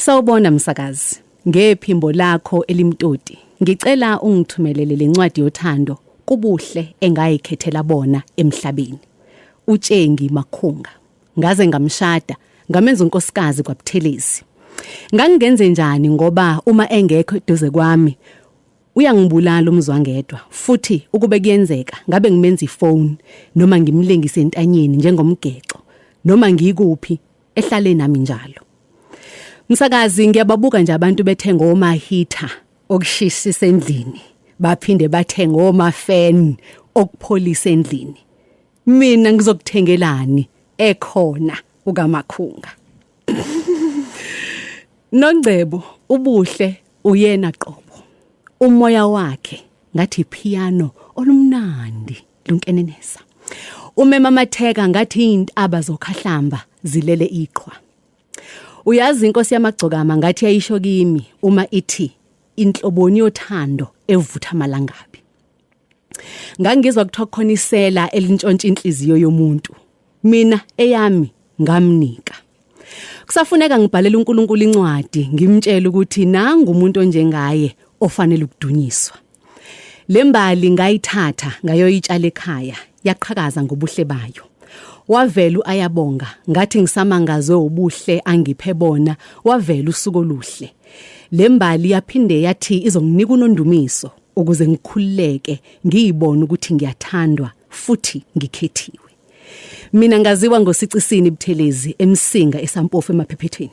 Sawubona msakazi. Ngephimbo lakho elimtoti, ngicela ungithumelele lencwadi yothando kubuhle engayikhethela bona emhlabeni. Utshengi Makhunga. Ngaze ngamshada, ngamenza unkosikazi kwaButhelezi. Ngangingenze njani ngoba uma engekho eduze kwami uyangibulala umzwangedwa futhi ukube kuyenzeka ngabe ngimenza ifone noma ngimlengise entanyeni njengomgexo noma ngikuphi ehlale nami njalo msakazi ngiyababuka nje abantu bethenga omahitha okushishisa endlini baphinde bathenga omafan okupholisa endlini mina ngizokuthengelani ekhona ukamakhunga Nongcebo ubuhle uyena qobo umoya wakhe ngathi piano olumnandi lunkenenisa umemamatheka ngathi iyintaba zokhahlamba zilele iqhwa uyazi inkosi yamagcokama ngathi yayisho kimi uma ithi inhloboni yothando evutha amalangabi ngangizwa kuthiwa khona isela elintshontsha inhliziyo yomuntu mina eyami ngamnika kusafuneka ngibhalele uNkulunkulu incwadi ngimtshele ukuthi nangu umuntu onjengaye ofanele ukudunyiswa lembali ngayithatha ngayoyitshala ekhaya yaqhakaza ngobuhle bayo wavela uayabonga ngathi ngisamangazwe ubuhle angiphe bona wavela usuku oluhle lembali yaphinde yathi izonginika unondumiso ukuze ngikhululeke ngiyibone ukuthi ngiyathandwa futhi ngikhethiwe mina ngaziwa ngosicisini ibuthelezi emsinga esampofu emaphephethweni